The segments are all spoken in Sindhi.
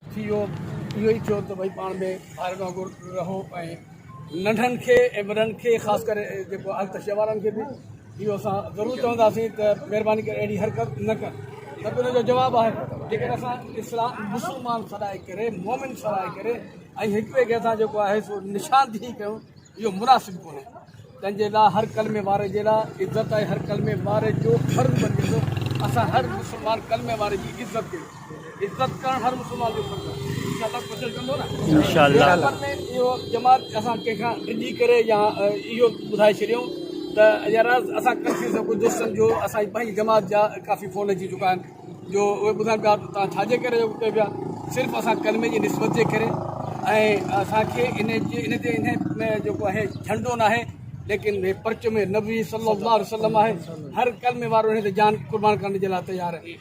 سي او اهو ئي چيو ته ڀئي پاڻ ۾ ڀائرن وانگر رهو ۽ ننڍن کي ۽ وڏن کي خاص ڪري جيڪو التشيه وارن کي به اهو اسان ضرور چونداسين ته مهرباني ڪري اهڙي حرڪت نه ڪن ته ان جو جواب آهي جيڪڏهن اسان اسلام مسلمان سڏائي ڪري مومن سڏائي ڪري ۽ هڪ ٻئي کي اسان جيڪو آهي سو نشاندهي ڪيون اهو مناسب ڪونهي تنهن جي لاء هر ڪلمي واري جي لاء عزت آهي هر ڪلمي واري جو فرض بنجي ٿو اسان هر مسلمان ڪلمي واري جي عزت ڪيون عزت ڪرڻ هر مسلمان جو فرض آهي انشاء الله ڪوشش ڪندو نه انشاء الله جماعت اسان ڪنهن کان ڊڄي ڪري يا اهو ٻڌائي ڇڏيون ته يار اسان ڪنفيوز ٿيو ڪجهه دوستن جو اسان جي پنهنجي جماعت جا ڪافي فون اچي چڪا آهن جو اهي ٻڌائن پيا ته توهان ڇاجي ڪري اهو ڪيو پيا صرف اسان ڪلمي جي نسبت جي ڪري ۽ اسان کي ان جي ان تي ان ۾ جيڪو آهي جهنڊو ناهي ليڪن هي پرچم ۾ نبي صلي الله عليه وسلم آهي هر ڪلمي وارو ان تي جان قربان ڪرڻ جي لاء تيار آهي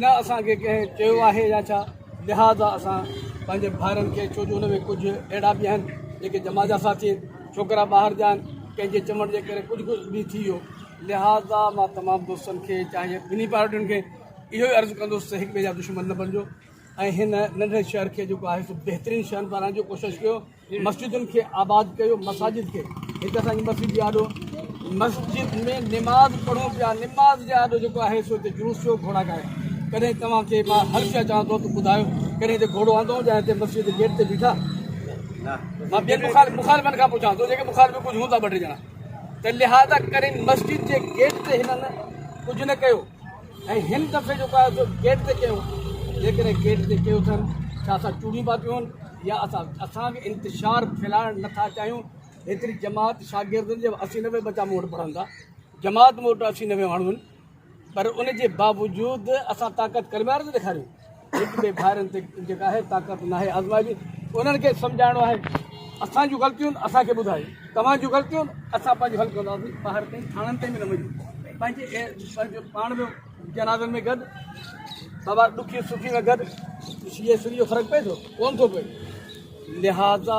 نه اسان کي ڪنهن چيو آهي يا ڇا لهذا اسان پنهنجي ڀائرن کي ڇو جو ان ۾ ڪجهه اهڙا به آهن جيڪي جماعت جا ساٿي آهن ڇوڪرا ٻاهر جا آهن ڪنهن جي چوڻ جي ڪري ڪجهه ڪجهه به ٿي ويو لهٰذا مان تمام دوستن کي چاهي ٻنهي پارٽين کي اهو ئي عرض ڪندس ته هڪ ٻئي جا دشمن نه بڻجو ۽ هن ننڍڙي شهر کي جيڪو آهي سو بهترين شهر بڻائڻ جو ڪوشش ڪيو مسجدن کي آباد ڪيو مساجد کي هڪ اسان جي مسجد جي آڏو مسجد ۾ نماز پڙهون پيا نماز جي آڏو جيڪو آهي سو هتي جلوس ٿيو گهوڙا ڳايا ڪڏهن توهان کي مان هر شهر چوان ٿو ته ٻڌايو ڪڏهن هتي گهوڙو آندو جا هتي مسجد جي گيٽ تي بيٺا مان ٻين مخالفن کان پڇان ٿو جيڪي مخالف ڪجهه هوندا ٻه ٽي ڄڻا ته لهٰذا ڪري مسجد جي گيٽ تي هنن ڪجهه نه ڪيو ۽ هن دفعي جيڪو آهي سو گيٽ تي ڪيو، جيڪڏهن گيٽ تي ڪيو اٿن ڇا اسان چوڙيون پاتيون هن يا اسان اسان کي انتشار ڦهلائڻ نه ٿا چاهيون هيتري جماعت شاگردن جي اسي نوي ٻچا مون وٽ پڙهن ٿا جماعت مون وٽ اسي نوي ماڻهو آهن. پر ان جي باوجود اسان طاقت ڪري ٻاهر ٿا ڏيکاريون هڪ ٻئي ڀائرن تي جيڪا آهي طاقت ناهي آزمائبي انهن کي سمجهائڻو آهي اسان جون غلطيون اسان کي ٻڌايو توهان جون غلطيون اسان پنهنجو حل ڪنداسين ٻاهر تائين ٿاڻن تائين به نه وڃون پنهنجي پنهنجو پاڻ ۾ جنازن ۾ گڏ بابا ڏکي سکي ۾ گڏ شيء سري جو فرق پئي ٿو ڪون ٿو پئي لہٰذا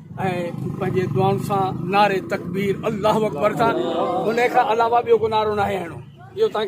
۽ پنهنجي دعائن سان نعري تڪبير الله اڪبر سان ان کان علاوه ٻيو ڪو نعرو ناهي هڻڻو اهو توهان کي